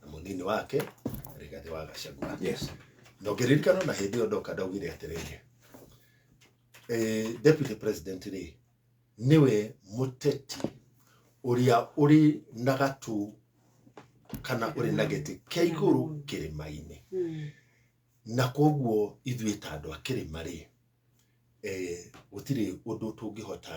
na mũnini wake Rigathi wa Gachagua yes na ũngĩririkana na hĩndĩ ĩyo ndoka ndaugire atĩrĩrĩ eh, deputy president rĩ nĩwe mũteti ũrĩa ũrĩ na gatũ kana ũrĩ na gĩtĩ kĩa igũrũ kĩrĩma-inĩ na koguo ithuĩ ta andũ a kĩrĩma rĩ eh, gũtirĩ ũndũ tũngĩhota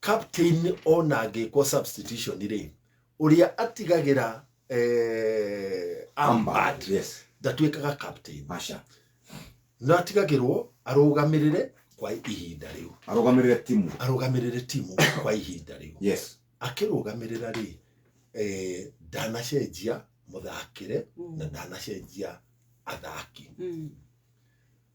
captain ona angĩkwo substitution rĩ ũrĩa atigagĩra eh, ambad yes ndatuĩkaga captain masha no atigagĩrwo arũgamĩrĩre kwa ihinda rĩu arugamirire timu arũgamĩrĩre timu kwa ihinda rĩu yes akĩrũgamĩrĩra rĩ eh, ndanacenjia mũthakĩre na ndanacenjia athaki Mm.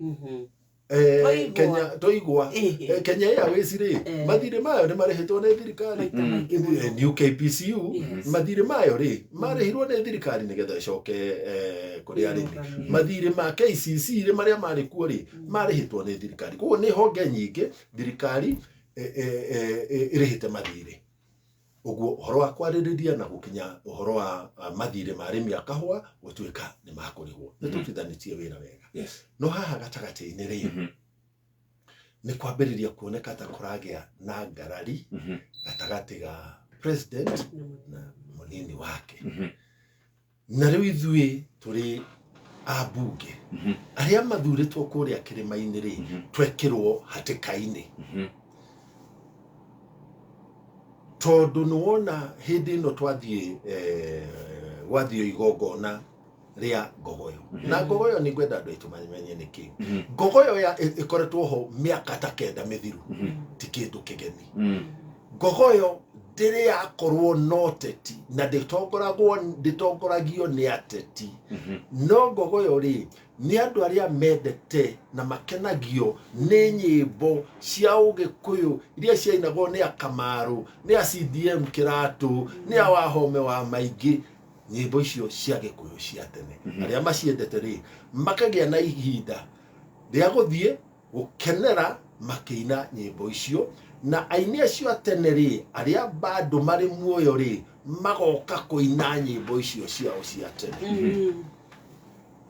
Mhm. Eh, Toigwa. Kenya toigwa Eh, eh. Eh, Kenya Airways rĩ Eh. mathirĩ mayo nĩ marĩhĩtwo nĩ thirikari Maita Mm. maingĩ mũno. Eh, new KPCU Yes. mathirĩ mayo rĩ marĩhirwo nĩ thirikari nĩgetha ĩcoke eh, kũrĩ arĩmi Ĩrũgamĩrĩre. mathirĩ ma KCC rĩ marĩa marĩ kuo rĩ marĩhĩtwo nĩ thirikari koguo nĩ honge nyingĩ thirikari eh, eh, eh, eh, ĩrĩhĩte mathirĩ Ũguo ũhoro wa kwarĩrĩria na gũkinya ũhoro wa ah, mathirĩ ma arĩmi a kahũa gũtuĩka nĩ makũrĩhwo nĩ tũtithanĩtie wĩra wega yes no haha gatagatĩ-inĩ rĩ Mhm. nĩ kwambĩrĩria kuoneka ta kũragĩa na ngarari Mhm. gatagatĩ ga president na mũnini wake Mhm. na rĩu ithuĩ tũrĩ ambunge Mhm. arĩa mathurĩtwo kũrĩa kĩrĩma-inĩ rĩ Mhm. twekĩrwo hatĩka-inĩ Mhm. tondũ nĩ wona hĩndĩ ĩno twathiĩ eh, gwathio igongona rĩa ngogoyo Mhm. na ngogoyo nĩ ngwenda andũ aitũ mamenye nĩ kĩĩ Mhm. ngogoyo ya- ĩ- ĩkoretwo ho mĩaka ta kenda mĩthiru Mhm. ti kĩndũ kĩgeni Mm. Ngogo ĩyo ndĩrĩ yakorwo na ũteti na ndĩtongoragwo ndĩtongoragio nĩ ateti no ngogo ĩyo rĩ nĩ andũ arĩa mendete na makenagio nĩ nyĩmbo cia ũgĩkũyũ iria ciainagwo nĩ akamarũ nĩ a CDM kĩratũ nĩ a wahome wa maingĩ nyĩmbo icio cia gĩkũyũ cia tene arĩa maciendete rĩ makagĩa na ihinda rĩa gũthiĩ gũkenera makĩina nyĩmbo icio, na aini acio a tene rĩ, arĩa bado marĩ muoyo rĩ, magoka kũina nyĩmbo icio ciao cia tene. Mm.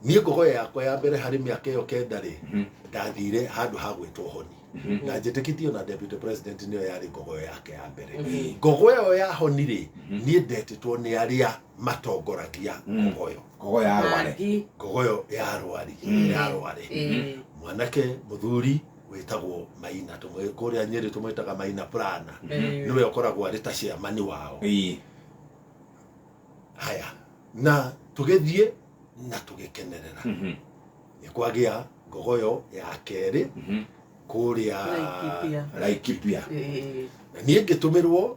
Niĩ ngũgoya yakwa ya mbere harĩ mĩaka ĩyo kenda rĩ, Mhm. ndathire handũ ha gwĩtwo honi Mhm. na njĩtĩkĩtie ona deputy president nĩyo yarĩ ngogoyo yake ya mbere Mhm. ngogoyo ĩyo ya honi rĩ Mhm. niĩ ndetĩtwo nĩ arĩa matongoragia Mm. ngogoyo ngogo ya arware Mangi. ngogoyo ya arwari Mm. ya arware Eh, mwanake muthuri wĩtagwo maina tũmwĩ- kũrĩa nyĩrĩ tũmwĩtaga maina prana eh, nĩwe ũkoragwo arĩ ta ciamani wao Ĩĩ. haya na tũgĩthiĩ na tũgĩkenerera Mhm. nĩ kwagĩa ngogoyo ya kerĩ Mhm. kũrĩa Laikipia. Laikipia. eh, na niĩ ngĩtũmĩrwo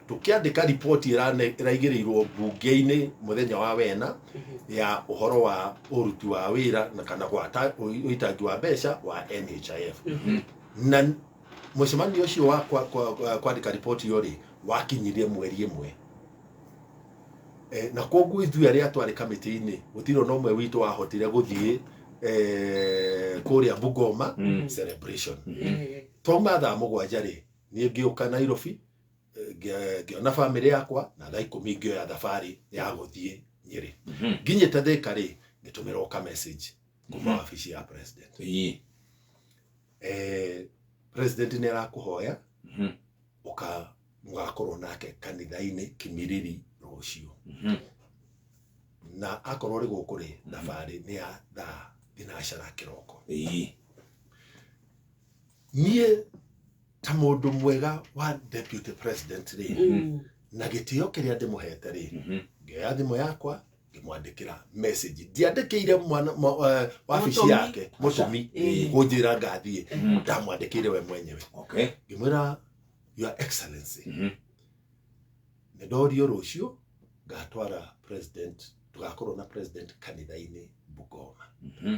tũkĩandĩka riboti ĩrane- ĩraigĩrĩirwo mbunge-inĩ mũthenya wa wena ya ũhoro wa ũruti wa wĩra na kana gwata ũi- ũitangi wa mbeca wa NHIF na mũcemanio ũcio wa kwa- kwa- kwa- kwandĩka riboti ĩyo rĩ wakinyire mweri ĩmwe Eh, na koguo ithuĩ arĩa twarĩ kamĩtĩ-inĩ gũtirĩ ona ũmwe witũ wahotire gũthiĩ eh, kũrĩa bungoma celebration twauma thaa mũgwanja rĩ niĩ ngĩũka nairobi ngĩ- ngĩona bamĩrĩ yakwa na thaa ikũmi ngĩoya thabarĩ ya gũthiĩ nyĩrĩ Mhm. nginyĩte thĩka rĩ ngĩtũmĩrwo ka message kuma Mhm. wabici ya president Ĩĩ. eh, president nĩ arakũhoya Mhm. ũka mũgakorwo nake kanitha-inĩ kĩmiriri rũciũ Mhm. na akorwo rĩ gũkũ rĩ thabarĩ nĩ ya thaa thinacara kĩroko Ĩĩ. niĩ ta mũndũ mwega wa deputy president rĩ Mm. na gĩtĩo kĩrĩa ndĩmũhete rĩ Mhm. ngĩoya thimũ yakwa ngĩmwandĩkĩra message ndiandĩkĩire mwana mwa- wa- wabici Mũtũmi. yake mũtũmi Ĩĩ. kũnjĩra ngathiĩ Mhm. ndamwandĩkĩire we mwenyewe Okay. ngĩmwĩra your excellency Mhm. nĩ ndorio rũciũ ngatwara president tũgakorwo na president kanitha-inĩ bungoma Mhm.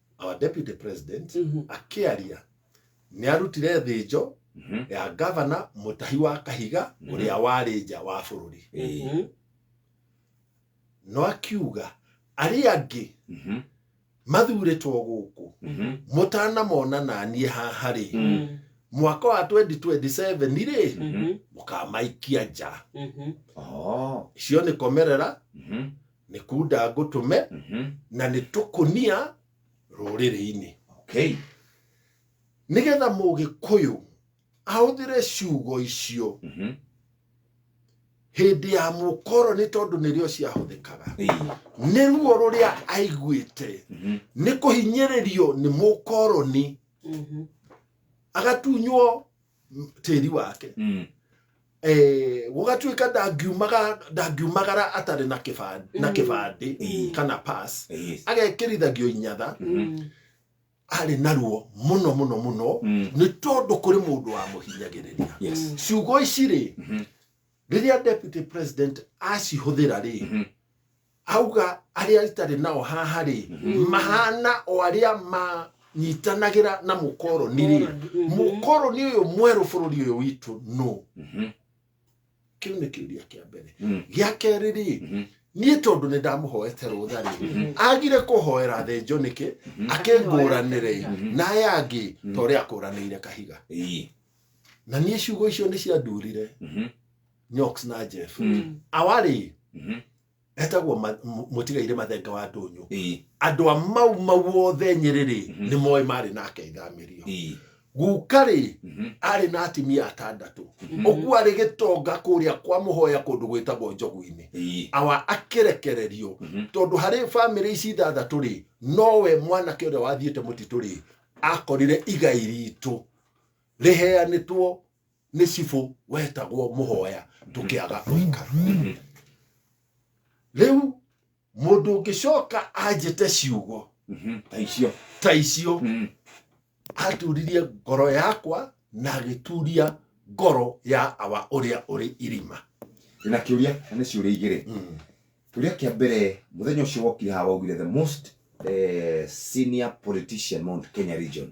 our deputy president Mhm. akĩaria nĩ arutire thĩnjo Mhm. ya gavana mũtahi wa kahiga Mhm. ũrĩa warĩ nja wa bũrũri Eh, Mhm. no akiuga arĩa angĩ mhm, mathurĩtwo gũkũ mhm, mũtanamona naniĩ haha rĩ Mhm. mwaka wa 2027 rĩ Mhm. mũkamaikia nja Mhm. oh, icio nĩ komerera mhm, nĩ kunda ngũtũme Mhm. na nĩ tũkũnia rũrĩrĩ-inĩ Okay. nĩgetha mũgĩkũyũ ahũthĩre ciugo icio Mhm. hĩndĩ ya mũkoroni tondũ nĩrĩo ciahũthĩkaga Ĩĩ. nĩ ruo rũrĩa aiguĩte Mhm. nĩ kũhinyĩrĩrio nĩ mũkoroni Mhm. agatunywo m- tĩri wake Mm. Eh, gũgatuĩka ndangiumaga- ndangiumagara atarĩ na kĩba- na kĩbandĩ Mm. kana pass Yes. agekĩrithagio inyatha Mhm. arĩ naruo mũno mũno mũno Mm. nĩ tondũ kũrĩ mũndũ wamũhinyagĩrĩria Yes. ciugo ici rĩ Mhm. rĩrĩa deputy president acihũthĩra rĩ Mhm. Auga arĩa itarĩ nao haha-rĩ, mahaana o arĩa manyitanagĩra na mũkoroni-rĩ, mũkoroni ũyũ mwerũ bũrũri ũyũ witũ nũ? Kĩu nĩ kĩũria kĩa mbere. Gĩa kerĩ-rĩ, niĩ tondũ nĩ ndamũhoete rũtha-rĩ, agire kũhoera athĩnjwo nĩkĩ? Akĩngũranĩre na aya angĩ ta ũrĩa akũranĩire kahiga. Na niĩ ciugo icio nĩ ciandurire. nyox na jeff Mm. awarĩ Mhm. etagwo ma- mu- mũtigaire mathenga wa ndũnyũ Ĩĩ, andũ a mau mau othe nyĩrĩrĩ Mhm. nĩ moĩ marĩ nake ithamĩrio ĩĩ, gukarĩ mhm, arĩ na atimia atandatũ mhm, ũguo arĩ gĩtonga kũrĩa kwa mũhoya kũndũ gwĩtagwo njogu-inĩ ĩĩ, awa akĩrekererio mhm, tondũ harĩ bamĩrĩ ici ithathatũ rĩ nowe mwanake ũrĩa wathiĩte mũtitũ rĩ akorire igai ritũ rĩheanĩtwo nĩ cibũ wetagwo mũhoya tũkĩaga twaikara rĩu mũndũ ũngĩcoka anjĩte ciugo Mhm. ta icio ta icio Mm. aturirie ngoro yakwa na agĩturia ngoro ya awa ũrĩa ũrĩ irima ndĩna kĩũria na nĩ ciũria igĩrĩ kĩũria kĩa mbere mũthenya ũcio wokire haha waugire the most eh, senior politician mount kenya region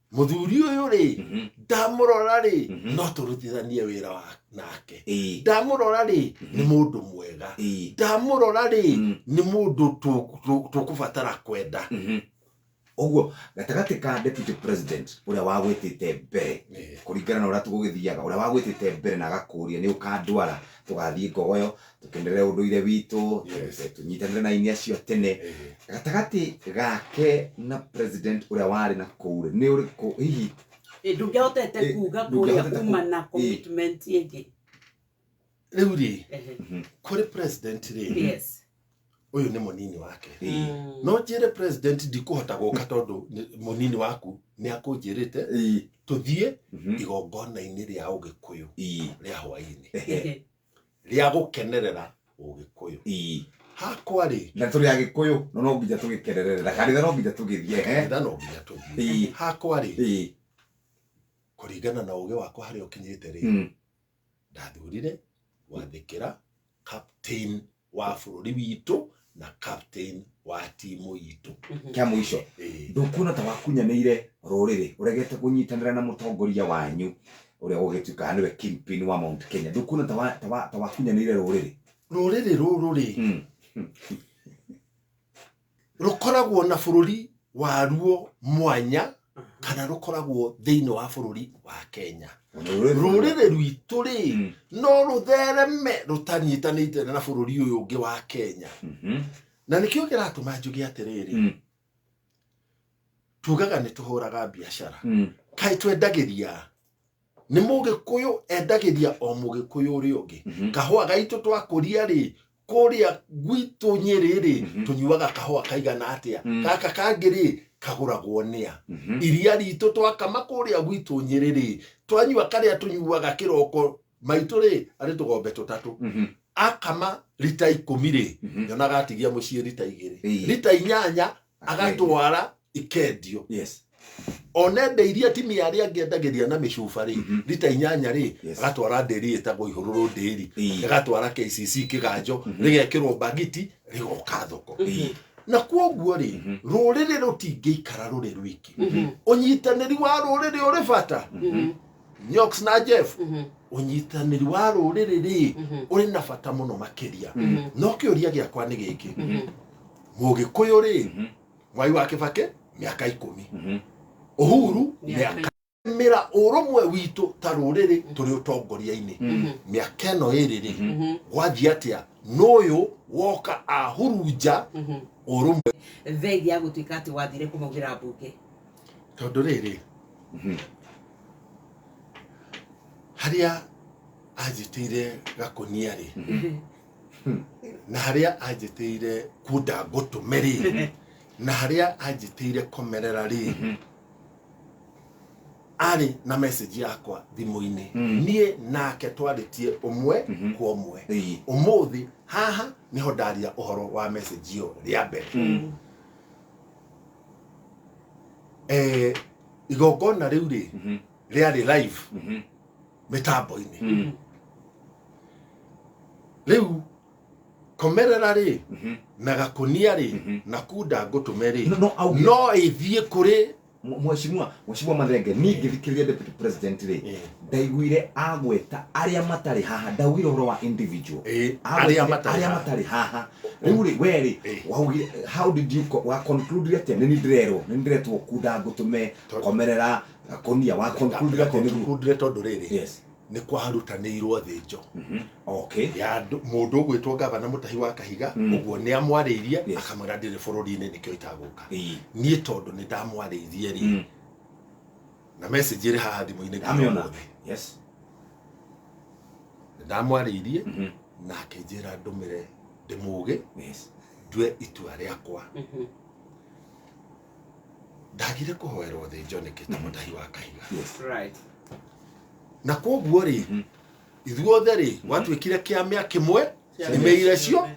muthuri uyu ri Mhm. ndamurora ri Mhm. no turutithanie wira wa- nake Ĩĩ. ndamurora ri Mhm. ni mundu mwega Ĩĩ. ndamurora ri Mm. ni mundu tu- tu- tukubatara kwenda Mhm. ũguo gatagatĩ ka deputy president ũrĩa wagwĩtĩte mbere kũringana na ũrĩa tũgũgĩthiaga ũrĩa wagwĩtĩte mbere na agakũria nĩ ũkandwara tũgathiĩ ngogoyo tũkenderere ũndũire witũ Yes. eh, tũnyitanĩre na aini acio tene Eh, gatagatĩ gake na president ũrĩa warĩ na kũu rĩ, nĩ ũrĩkũ hihi Eh, ndũngĩahotete Eh, kuga kũrĩa ndũngĩahotete kuma ku- na eh. commitment ĩngĩ rĩu rĩ Ehe. kũrĩ president rĩ yes ũyũ nĩ mũnini wake Eh, Mm. no njĩre president ndikũhota gũka tondũ nĩ- mũnini waku nĩ akũnjĩrĩte eh, tũthiĩ mhm, igongona-inĩ rĩa ũgĩkũyũ eh, rĩa hwainĩ Ehe. rĩa gũkenerera ũgĩkũyũ ii hakwa rĩ na tũrĩ agĩkũyũ no no nginya tũgĩkererere na kanitha no nginya tũgĩthiĩ he kanitha no nginya Ĩĩ. tũthiĩ hakwa rĩ ii kũringana na ũgĩ wakwa harĩa ũkinyĩte rĩ Mm. ndathurire gwathĩkĩra captain wa bũrũri witũ na captain wa timu itũ kĩa mũico Ĩĩ. ndũkuona ta wakunyanĩire rũrĩrĩ ũregete kũnyitanĩra na mũtongoria wanyu ũrĩa ũgĩtuĩkaga nĩwe kingpin wa mount kenya ndũkuona ta wa- ta wa- ta wakunyanĩire rũrĩrĩ rũrĩrĩ rũrũ rĩ Mm. rũkoragwo na bũrũri waruo mwanya kana rũkoragwo thĩinĩ wa bũrũri wa kenya rũrĩrĩ rwitũ rĩ mm. no rũthereme rũtanyitanĩte na bũrũri ũyũ ũngĩ wa kenya mm-hmm. na nĩkĩo kĩratũma njuge atĩrĩrĩ mm. tugaga nĩ tũhũraga biacara mm. kaĩ twendagĩria nĩ mũgĩkũyũ endagĩria o mũgĩkũyũ ũrĩa ũngĩ Mhm. kahũa gaitũ twakũria rĩ kũrĩa gwitũ nyĩrĩ rĩ Mhm. tũnyuaga kahũa kaigana atĩa Mm. gaka kangĩ rĩ kagũragwo nĩa Mhm. iria ritũ twakama kũrĩa gwitũ nyĩrĩ rĩ twanyua karĩa tũnyuaga kĩroko maitũ rĩ arĩ tũgombe tũtatũ Mhm. akama rita ikũmi rĩ Mhm. nyonaga atigia mũciĩ rita igĩrĩ Ĩĩ. rita inyanya agatwara ikendio yes one nda iria atimia arĩa angĩ endagĩria na mĩcuba rĩ Mhm. rita inyanya rĩ Yes. agatwara ndĩri ĩtagwo ihũrũrũ ndĩri Ii. agatwara kcc kĩganjo Mhm. rĩgekĩrwo mbagiti rĩgoka thoko Ii. na kwoguo rĩ Mhm. rũrĩrĩ rũtingĩikara rũrĩ rwiki Mhm. ũnyitanĩri wa rũrĩrĩ ũrĩ bata Mhm. nyox na jeff Mhm. ũnyitanĩri wa rũrĩrĩ rĩ Mhm. ũrĩ na bata mũno makĩria Mhm. no kĩũria gĩakwa nĩ gĩkĩ Mhm. mũgĩkũyũ rĩ Mhm. mwai wa kĩbakĩ mĩaka ikũmi Mhm. ũhuru Mĩaka mĩaka mĩra ũrũmwe witũ ta rũrĩrĩ tũrĩ ũtongoria-inĩ Mhm. mĩaka ĩno ĩrĩ rĩ Mhm. Mhm. gwathiĩ atĩa n'ũyũ woka ahurunja Mhm. ũrũmwe thengi ya gũtuĩka atĩ wathire kũmaugĩra mbunge tondũ rĩrĩ Mhm. harĩa anjĩtĩire gakũnia rĩ Mhm. na harĩa anjĩtĩire kuonda ngũtũme rĩ na harĩa anjĩtĩire komerera rĩ arĩ na message yakwa thimũ-inĩ niĩ nake twarĩtie ũmwe kwa ũmwe ũmũthĩ haha nĩho ndaria ũhoro wa message ĩyo rĩa mbere Eh, igongona rĩu rĩ rĩarĩ live mĩtambo-inĩ Mm. rĩu komerera rĩ Mhm. na gakunia rĩ Mhm. na kunda ngũtũme rĩ No- no auge- no ĩthiĩ kũrĩ Mwe- Mheshimiwa, Mheshimiwa Mathenge, niĩ ngĩthikĩrĩria Deputy President rĩ, Eh. ndaiguire agweta arĩa matarĩ haha, ndaugire ũhoro wa individual. Eh, Agwetire arĩa matarĩ arĩa haha. matarĩ haha. Rĩu rĩ, we rĩ, Eh. waugire, how did you co- wa conclude atĩa? Nĩ niĩ ndĩrerwo, nĩ niĩ ndĩretwo kunda ngũtũme, Tondũ- komerera, na kunia wa conclude atĩ nĩguo conclude tondũ rĩrĩ yes nĩ kwarutanĩirwo thĩnjo mhm okay ya andũ- mũndũ ũgwĩtwo gavana mũtahi wa kahiga Mm. ũguo nĩ amwarĩirie Yes. akamwĩra ndĩrĩ bũrũri-inĩ nĩkĩo itagũka ii niĩ tondũ nĩ ndamwarĩirie rĩ mm na message ĩrĩ haha thimũ-inĩ nginya amĩona ũmũthĩ. yes Nĩ ndamwarĩirie mhm na akĩnjĩra ndũmĩre ndĩmũgĩ yes ndue itua rĩakwa Mhm. ndagire kũhoerwo thĩ njoneke ta mũtahi wa kahiga Right. na koguo rĩ Mhm. ithuothe rĩ gwatuĩkire kĩa mĩa kĩmwe Kĩa nĩme mĩa iria cio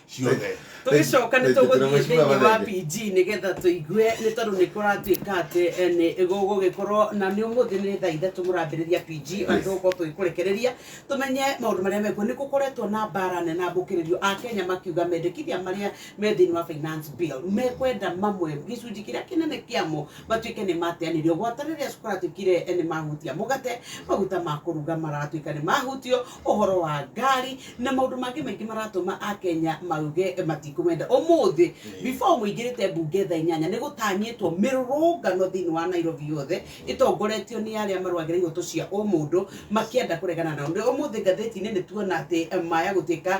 ciothe tũgĩcoka nĩ tũgũthiĩ thĩinĩ wa pg nĩgetha tũigue nĩ tondũ nĩ kũratuĩka atĩ eh, nĩ gũgũgĩkorwo na nĩ ũmũthĩ nĩ thaa ithatũ mũrambĩrĩria pg na Yes. tũgũkorwo tũgĩkũrekereria tũmenye maũndũ marĩa mekuo nĩ gũkoretwo na mbara nene ambũkĩrĩrio a kenya makiuga mendekithia marĩa me thĩinĩ wa finance bill mekwenda mamwe gĩcunjĩ kĩrĩa kĩnene kĩamo matuĩke nĩ mateanĩrio gwata rĩrĩa kũratuĩkire nĩ mahutia mũgate maguta ma kũruga maratuĩka nĩ mahutio ũhoro wa ngari na maũndũ mangĩ maingĩ maratũma a Kenya mauge matikũmenda ũmũthĩ before mũingĩrĩte mbunge thaa inyanya nĩ gũtanyĩtwo mĩrũrũngano thĩinĩ wa Nairobi yothe ĩtongoretio nĩ arĩa marũagĩra ihoto cia ũmũndũ makĩenda kũregana nao Nĩ- ũmũthĩ ngathĩti-inĩ nĩ tuona atĩ eh, maya gũtuĩka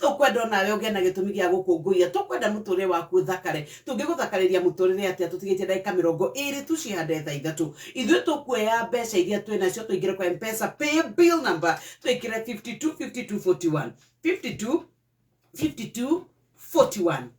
Tũkwenda o nawe ũgĩe na gĩtũmi gĩa gũkũngũiya. Tũkwenda mũtũũrĩre waku ũthakare. Tũngĩgũthakarĩria mũtũũrĩre atĩa tũtigĩtie ndagĩka mĩrongo ĩĩrĩ tu cihande thaa ithatũ? Ithuĩ tũkuoya mbeca iria twĩ nacio tũingĩre kwa M-Pesa pay bill number twĩkĩre 525241 52 52 41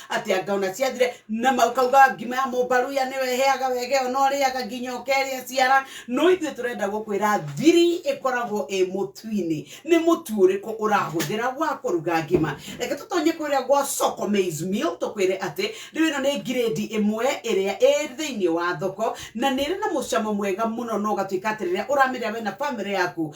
atĩ anga ona ciathire na makauga ngima ya mũmbaruya nĩwe ĩheaga wegeo no rĩaga nginya ũkerĩa ciara no ithuĩ tũrenda gũkwĩra thiri ĩkoragwo ĩ mũtu-inĩ nĩ mũtu ũrĩkũ ũrahũthĩra wa kũruga ngima reke tũtonye kũrĩa gwa soko maize meal tũkwĩre atĩ rĩu ĩno nĩ ngirĩndi ĩmwe ĩrĩa ĩ thĩinĩ wa thoko na nĩ ĩrĩ na mũcamo mwega mũno no ũgatuĩka atĩ rĩrĩa ũramĩrĩa we na bamĩrĩ yaku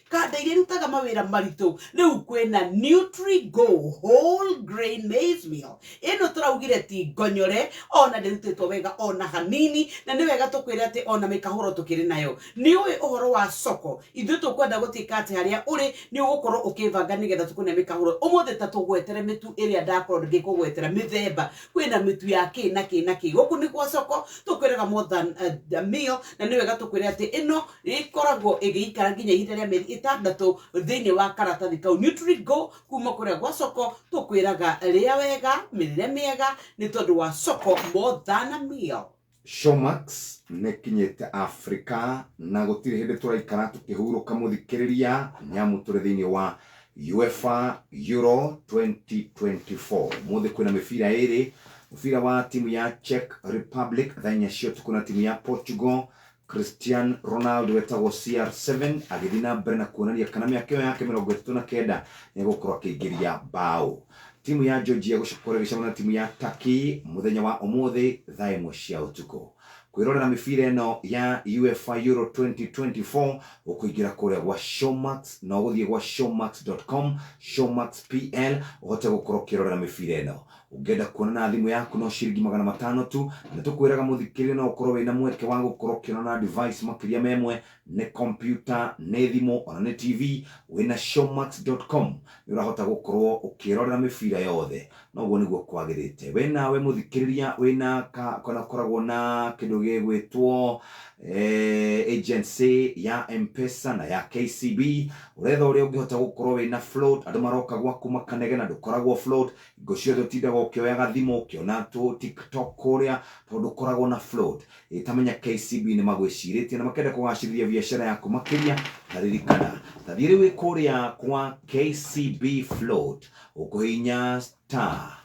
Kanda iria irutaga mawĩra maritũ rĩu kwĩna Nutri-Go whole grain maize meal ĩno tũraugire ti ngonyore ona ndĩrutĩtwo wega ona hanini na nĩ wega tũkwĩre atĩ ona mĩkahũro tũkĩrĩ nayo nĩ ũĩ ũhoro wa soko ithuĩ tũkwenda gũtuĩka atĩ harĩa ũrĩ nĩ ũgũkorwo ũkĩbanga nĩgetha tũkone mĩkahũro ũmũthĩ ta tũgwetera mĩtu ĩrĩa ndakorwo ngĩkũgwetera mĩthemba kwĩna mĩtu ya kĩ na kĩ na kĩ gũkũ nĩ gwa soko tũkwĩraga more than a meal na nĩ wega tũkwĩre atĩ ĩno ĩkoragwo ĩgĩikara nginya ihinda rĩa mĩeri ĩtandatũ thĩinĩ wa karatathi kau nutrigo kuma kũrĩa gwa coko tũkwĩraga rĩa wega mĩrĩre mĩega nĩ tondũ wa coko more than a meal Showmax nĩkinyĩte Africa na gũtirĩ hĩndĩ tũraikara tũkĩhurũka mũthikĩrĩria nĩamu tũrĩ thĩinĩ wa UEFA Euro 2024 mũthĩ kwĩna mĩbira ĩrĩ mũbira wa timu ya Czech Republic thaa inya cia ũtukũ na timu ya Portugal Christian Ronaldo wetagwo CR7 agĩthiĩ na mbere na kuonania kana mĩaka ĩyo yake mĩrongo ĩtatũ na kenda nĩ egũkorwo akĩingĩria mbaũ. Timu ya Georgia ĩgũcoka kũrĩa ĩgĩcemana na timu ya Turkey mũthenya wa ũmũthĩ thaa ĩmwe cia ũtukũ. Kwĩrorera mĩbira ĩno ya UEFA Euro 2024 ũkũingĩra kũrĩa gwa Showmax na ũgũthiĩ gwa showmax.com, Showmax PL ũhote gũkorwo ũkĩrorera mĩbira ĩno. Ũngĩenda kuona na thimũ yaku no ciringi magana matano tu, na nĩtũkwĩraga mũthikĩrĩria no ũkorwo wĩna mweke wa gũkorwo ũkĩona na device makĩria ma ĩmwe, nĩ kompiuta, nĩ thimũ ona nĩ TV, wĩna Showmax dot com nĩũrahota gũkorwo ũkĩrorera mĩbira yothe, na ũguo nĩguo kwagĩrĩte. We nawe mũthikĩrĩria wĩna ka kana ũkoragwo na kĩndũ gĩgwĩtwo agency ya M-pesa na ya KCB, ũretha ũrĩa ũngĩhota gũkorwo wĩna float, andũ maroka gwaku makanegena ndũkoragwo float, Hingo ciothe ũtindaga ũkĩoyaga thimũ ũkĩona tũ tiktok kũrĩa tondũ ũkoragwo na float ĩtamenya KCB nĩmagwĩcirĩtie na makenda kũgacĩrithia biacara yaku makĩria ta ririkana ta thiĩ rĩu wĩ kũrĩa kwa KCB float ũkũhihinya star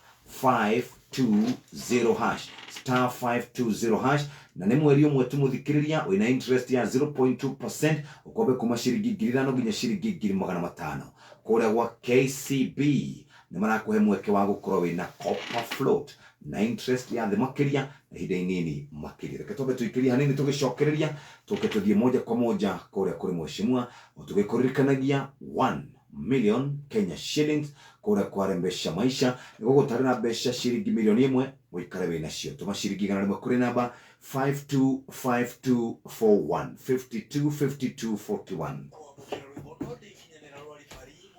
520 hash star 520 hash na nĩ mweri ũmwe tu mũthikĩrĩria wĩna interest ya 0.2% ũkombe kuma ciringi ngiri ithano nginya ciringi ngiri magana matano kũrĩa gwa KCB nĩ marakũhe mweke wa gũkorwo wĩ na copper float na interest ya thĩ makĩria na ihinda inini makĩria. Reke twambe tũikĩrie hanini tũgĩcokereria, tũke tũthiĩ moja kwa moja kũrĩa kũrĩ Mheshimiwa, o tũgĩkũririkanagia 1 million Kenya shillings kũrĩa kwa Rembesha Maisha nĩ gũgũtarĩ na mbeca ciringi mirioni ĩmwe ũikare wĩ nacio. Tũma ciringi igana rĩmwe kũrĩ namba 525241, 525241.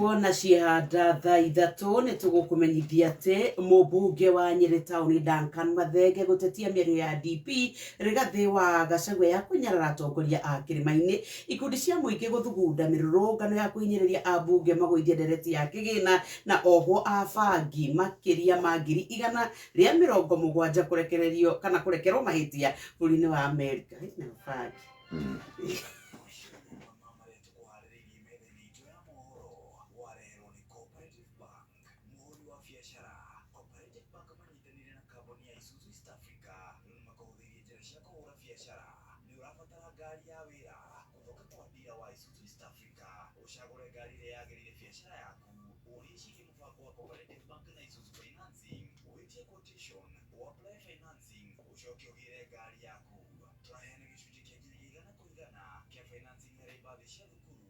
wona ciehanda thaa ithatũ nĩ tũgũkũmenyithia atĩ mũmbunge wa nyĩrĩ taũni Duncan Mathenge gũtetia mĩario ya DP Rigathĩ wa Gachagua ya kũnyarara atongoria a kĩrĩma-inĩ Ikundi cia mũingĩ gũthugunda mĩrũrũngano ya kũhinyĩrĩria ambunge magũithie ndereti ya kĩgĩna na ohwo a bangi makĩria ma ngiri igana rĩa mĩrongo mũgwanja kũrekererio kana kũrekerwo mahĩtia bũrũri-inĩ wa Amerika. Hĩ, na bangi. Mũhũri wa biacara, Cooperative Bank manyitanĩire na kambuni ya Isuzu East Africa nĩ makũhũthĩirie njĩra cia kũhũra biacara. Nĩ ũrabatara ngari ya wĩra? Gũthonga kwa ndira wa Isuzu East Africa ũcagũre ngari ĩrĩa yagĩrĩire biacara yaku. Ũũrie ciĩgiĩ mũbango wa Cooperative Bank na Isuzu Financing, wĩtie quotation, ũaplaye financing, ũcoke ũgĩre ngari yaku. Tũraheana gĩcunjĩ kĩa nginya gĩa igana kwa igana kĩa financing harĩ mbathi cia thukuru.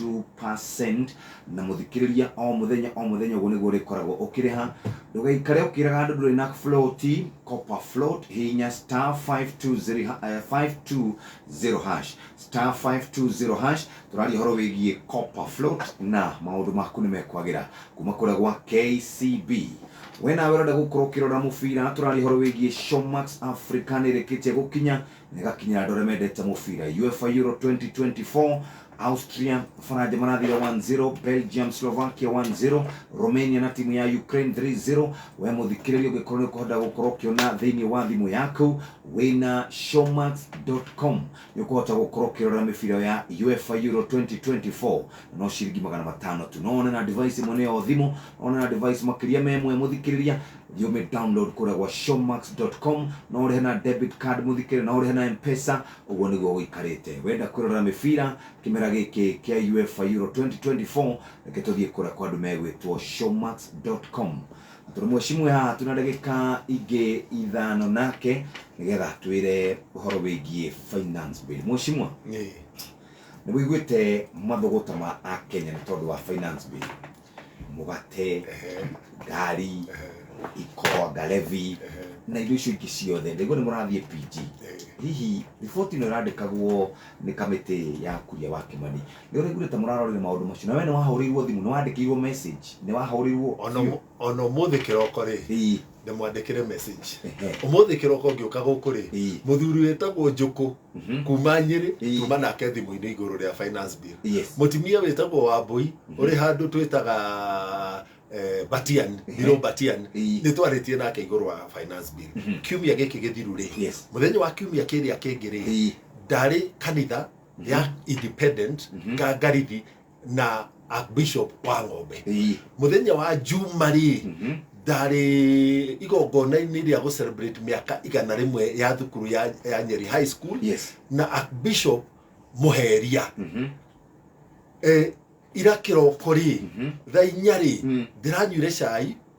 2% na mũthikĩrĩria o mũthenya o mũthenya ũguo nĩguo ũrĩkoragwo ũkĩrĩha ndũgaikare ũkĩraga andũ ndũrĩ na float copper float hihinya star 520 ha- eh, 520 hash star 520 hash tũraria ũhoro wĩgiĩ copper float na maũndũ maku nĩ mekwagĩra kuma kũrĩa gwa kcb we nawe ũrenda gũkorwo ũkĩrora mũbira tũraria ũhoro wĩgiĩ showmax africa nĩrĩkĩtie gũkinya na ĩgakinyĩra andũ arĩa mendete mũbira uefa euro 2024 Austria, Faraja Maradhi ya 1-0, Belgium, Slovakia 1-0, Romania na timu ya Ukraine 3-0. We mũthikĩrĩria ũngĩkorwo nĩ ũkũhota gũkorwo ũkĩona thĩinĩ wa thimũ yaku wĩna showmax.com nĩ ũkũhota gũkorwo ũkĩrora mĩbira ya UEFA Euro 2024 na no ciringi magana matano tu no one na device ĩmwe nĩyo thimũ no one na device makĩria ma ĩmwe mũthikĩrĩria thiĩ ũmĩ download kũrĩa gwa showmax.com no ũrĩhe na debit card mũthikĩrĩria no ũrĩhe na mpesa Ũguo nĩguo gũikarĩte. Wenda kwĩrorera mĩbira kĩmera gĩkĩ kĩa UEFA Euro 2024, reke tũthiĩ kũrĩa kwa andũ megwĩtwo Showmax dot com. Tondũ mwecimu e haha twĩ na ndagĩka ingĩ ithano nake nĩgetha atwĩre ũhoro wĩgiĩ finance bill. Mwecimwa, Ĩĩ. nĩ wĩiguĩte mathũgũta ma Akenya nĩ tondũ wa finance bill? mũgate ngari ikoro ngarebi na indo icio ingĩ ciothe ndaigua nĩ mũrathiĩ PG hihi riboti ĩno ĩrandĩkagwo nĩ kamĩtĩ ya kuria wa Kimani nĩ ũraiguire ta mũrarorire maũndũ macio na we nĩ wahũrĩirwo thimũ nĩ wandĩkĩirwo message nĩ wahũrĩirwo ona ũmũthĩ kĩroko rĩ Ii. ndĩmwandĩkĩre message Ehe. ũmũthĩ kĩroko ngĩũka gũkũ rĩ Ĩĩ. mũthuri wĩtagwo njũkũ Mhm. kuma nyĩrĩ Ĩĩ. tuma nake thimũ-inĩ igũrũ rĩa finance bill Yes. mũtimia wĩtagwo wambui ũrĩ handũ twĩtaga eh, batian ndiro batian Ĩĩ. nĩ twarĩtie nake igũrũ wa finance bill Mhm. kiumia gĩkĩ gĩthiru rĩ Yes. mũthenya wa kiumia kĩrĩa kĩngĩ rĩ Ĩĩ. ndarĩ kanitha ya independent Mhm. kangarithi na archbishop wa ng'ombe Ii. muthenya wa juma rĩ Mhm. ndarĩ igongona-inĩ rĩa gũcelebrate mĩaka igana rĩmwe ya thukuru ya, ya nyeri high school yes na archbishop mũheria Mhm. e, ira kĩroko rĩ Mhm. thaa inya rĩ Mm. ndĩranyuire cai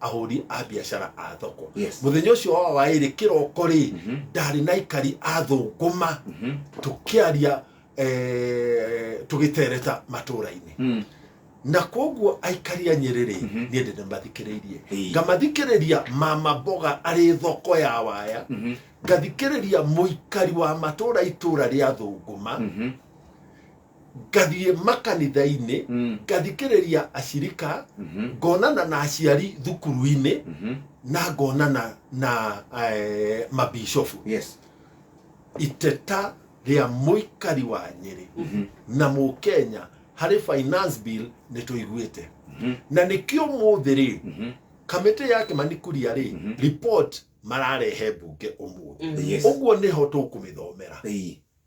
ahũri a biacara a thoko Yes. mũthenya ũcio wa waĩrĩ kĩroko rĩ Mhm. ndarĩ na ikari a thũngũma Mhm. tũkĩaria eh, tũgĩtereta matũũra-inĩ Mm. na koguo aikari a nyĩrĩ rĩ Mhm. niĩ ndĩ ndĩmathikĩrĩirie Ĩĩ. ngamathikĩrĩria mama mboga arĩ thoko ya waya Mhm. ngathikĩrĩria mũikari wa matũũra itũũra rĩa thũngũma Mhm. ngathiĩ makanitha-inĩ Mm. ngathikĩrĩria acirika Mhm. ngonana na aciari thukuru-inĩ Mhm. na ngonana na eh, mabishofu Yes. iteta rĩa mũikari wa nyĩrĩ Mhm. na mũkenya harĩ finance bill nĩ tũiguĩte Mhm. na nĩkĩo mũthĩ rĩ Mhm. kamĩtĩ ya kĩmanikuria rĩ Mhm. report mararehe mbunge ũmũthĩ Yes. ũguo nĩho tũkũmĩthomera Ĩĩ.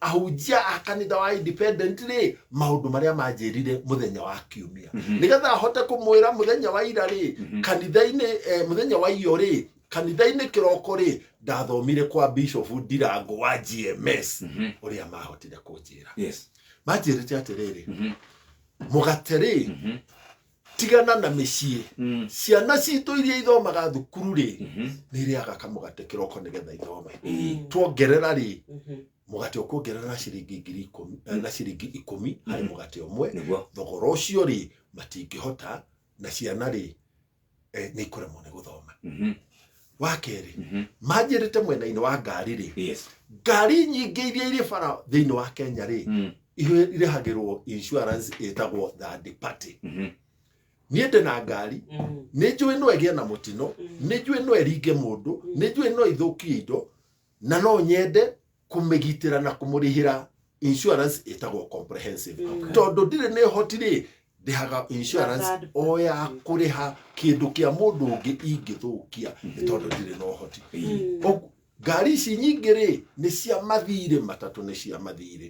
ahunjia a kanitha wa independent rĩ maũndũ marĩa manjĩrire mũthenya wa kiumia Mhm. nĩgetha ahote kũmwĩra mũthenya wa ira rĩ Mhm. kanitha-inĩ eh, mũthenya wa iyo rĩ kanitha-inĩ kĩroko rĩ ndathomire kwa bishop ndirango wa gms Mhm. ũrĩa mahotire kũnjĩra Yes. manjĩrĩte atĩrĩrĩ Mhm. mũgate rĩ Mhm. tigana na mĩciĩ Mm. ciana citũ iria ithomaga thukuru rĩ Mhm. nĩ irĩaga kamũgate kĩroko nĩgetha ithome Mm. tuongerera rĩ Mhm. mũgate ũkuongerera na ciringi ngiri ikũmi eh, na ciringi ikũmi harĩ Mhm. mũgate ũmwe nĩguo thogora ũcio rĩ matingĩhota na ciana rĩ eh, nĩ ikũremwo nĩ gũthoma Mhm. wa kerĩ Mhm. manjĩrĩte mwena-inĩ wa ngari rĩ Yes. ngari nyingĩ iria irĩ bara thĩinĩ wa kenya rĩ Mm. irĩ- irĩhagĩrwo insurance ĩtagwo third party Mhm. niĩ ndĩ na ngari Mm. nĩ njũĩ no ĩgĩe na mũtino Mm. nĩ njũĩ no ĩringe mũndũ nĩ njũĩ no ithũkie indo na no nyende kũmĩgitĩra na kũmũrĩhĩra insurance ĩtagwo comprehensive mm. tondũ ndirĩ nĩ hotirĩ ndĩhaga insurance o ya kũrĩha kĩndũ kĩa mũndũ ũngĩ ingĩthũkia mm. nĩ tondũ ndirĩ na ũhoti mm. ngari ici nyingĩ rĩ nĩ cia mathirĩ matatũ nĩ cia mathirĩ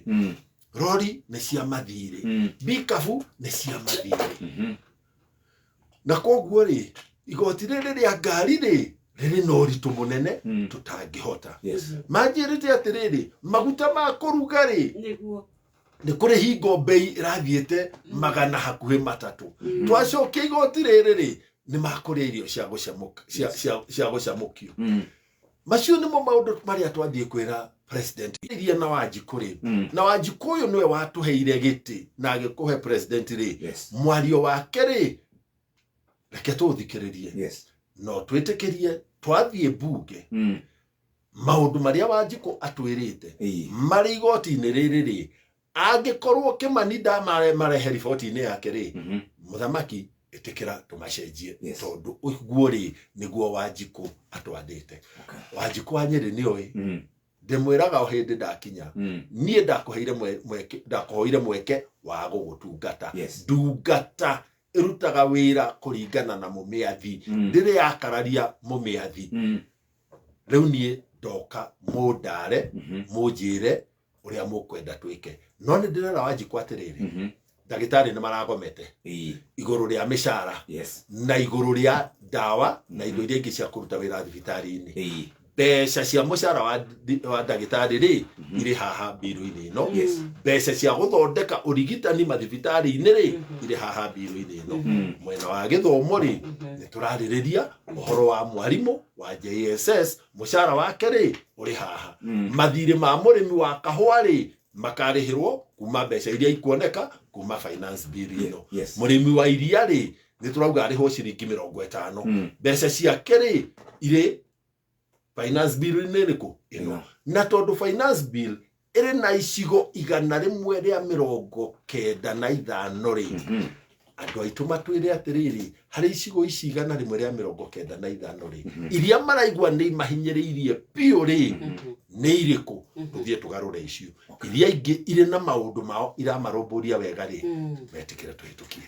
rori nĩ cia mathirĩ mbikabu nĩ cia mathirĩ mm-hmm. na koguo rĩ igoti rĩrĩ rĩa ngari rĩ rĩrĩ na ũritũ mũnene Mm. tũtangĩhota Yes. manjĩrĩte atĩrĩrĩ maguta ma kũruga rĩ nĩguo nĩ kũrĩ hingo mbei ĩrathiĩte magana hakuhĩ matatũ twacokia igoti rĩrĩ rĩ nĩ makũrĩa irio cia gũcamũk- cia- cia- cia gũcamũkio Mm. macio nimo maundu maria twathie kwira president iria na wanjiku ri Mm. na wanjiku uyu niwe watuheire giti na agikuhe president ri Yes. mwario wake ri reke tuthikiririe Yes. no twitikirie twathie bunge Mm. maundu maria wanjiku atwirite Ii. marĩ igoti-inĩ rĩrĩ rĩ Angĩkorwo Kĩmani ndamarehe riboti-inĩ yake rĩ, Mhm. mũthamaki ĩtĩkĩra tũmacenjie Yes. tondũ ũguo rĩ nĩguo wanjikũ atwathĩte Okay. wanjikũ wa nyĩrĩ nĩ oĩ Mm, ndĩmwĩraga o hĩndĩ ndakinya mm. niĩ ndakũheire mwe- mweke ndakũhoire mweke wa gũgũtungata Yes. ndungata ĩrutaga wĩra kũringana na mũmĩathi Mm. ndĩrĩ yakararia mũmĩathi Mm, rĩu niĩ ndoka mũndare mhm. mũnjĩre ũrĩa mũkwenda twĩke no nĩ ndĩrera wanjikwa atĩrĩrĩ Mhm. ndagĩtarĩ nĩ maragomete Ii. igũrũ rĩa mĩcara Yes. na igũrũ rĩa ndawa na indo iria ingĩ cia kũruta wĩra thibitarĩ-inĩ Ii. mbeca cia mũcara wa ndi- wa ndagĩtarĩ rĩ irĩ haha mbirũ-inĩ ĩno Yes. mbeca cia gũthondeka ũrigitani mathibitarĩ-inĩ rĩ irĩ haha mbirũ-inĩ ĩno Mm. mwena wa gĩthomo rĩ nĩ tũrarĩrĩria ũhoro wa mwarimũ wa jss mũcara wake rĩ ũrĩ haha Mm. mathirĩ ma mũrĩmi wa kahũa rĩ makarĩhĩrwo kuma mbeca iria ikuoneka kuma finance bill ĩno Yes. mũrĩmi wa iria rĩ nĩ tũrauga arĩhwo ciringi mĩrongo ĩtano Mm. mbeca ciake rĩ irĩ finance bill-inĩ ĩrĩkũ ĩno Ĩno. na tondũ finance bill ĩrĩ na icigo igana rĩmwe rĩa mĩrongo kenda na ithano rĩ andũ aitũ matwĩre atĩrĩrĩ harĩ icigo ici igana rĩmwe rĩa mĩrongo kenda na ithano rĩ iria maraigua nĩ imahinyĩrĩirie biũ rĩ nĩ irĩkũ tũthiĩ tũgarũre icio iria ingĩ irĩ na maũndũ mao iramarũmbũria wega rĩ metĩkĩre tũhĩtũkie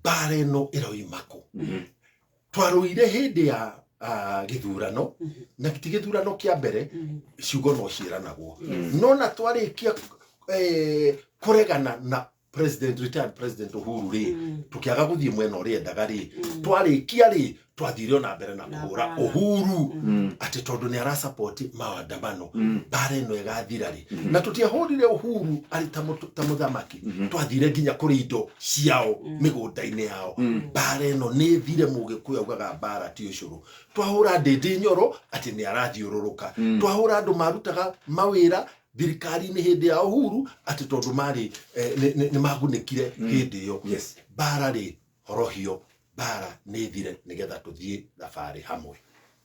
mbara ĩno ĩroima kũ Mhm. twarũire hĩndĩ ya ah, gĩthurano Mhm. na ti gĩthurano kĩa mbere Mhm. ciugo no ciĩranagwo Yes. no na twarĩkia eh, kũregana na president retired president uhuru rĩ Mhm. tũkĩaga gũthiĩ mwena ũrĩa endaga rĩ Mhm. twarĩkia rĩ twathire ona mbere na kuhura bara. uhuru ati tondu ni arasapoti maandamano bara ino igathira ri na tutiahurire uhuru ari ta mutu- ta muthamaki twathire nginya kuri indo ciao migunda-ini yao bara ino ni thire mugikuyu augaga bara ti ucuru twahura ndindi nyoro ati ni arathiururuka twahura andu marutaga mawira thirikari-inĩ hĩndĩ ya uhuru atĩ tondũ marĩ eh, nĩ- nĩ nĩ magunĩkire hĩndĩ ĩyo Yes. bara rĩ horohio mbara nĩ thire nĩgetha tũthiĩ thabarĩ hamwe.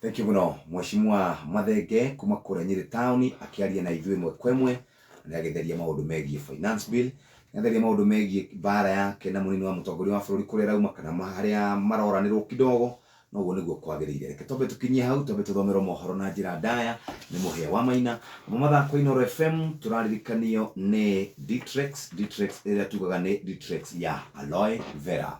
Thengiũ mũno Mweshimua Mathenge kuma kũrĩa Nyĩrĩ Town akĩaria na ithuĩ ĩmwe kwa ĩmwe na nĩ agĩtheria maũndũ megiĩ finance bill, nĩ atheria maũndũ megiĩ mbara yake na mũnini wa mũtongoria wa bũrũri kũrĩa ĩrauma kana harĩa maroranĩrwo kidogo Na ũguo nĩguo kwagĩrĩire. Reke twambe tũkinyie hau, twambe tũthomerwo mohoro na njĩra ndaya nĩ Mũhĩa wa Maina. Namo mathako Inooro FM tũraririkanio nĩ Ditrex, Ditrex ĩrĩa tugaga nĩ Ditrex ya Aloe Vera.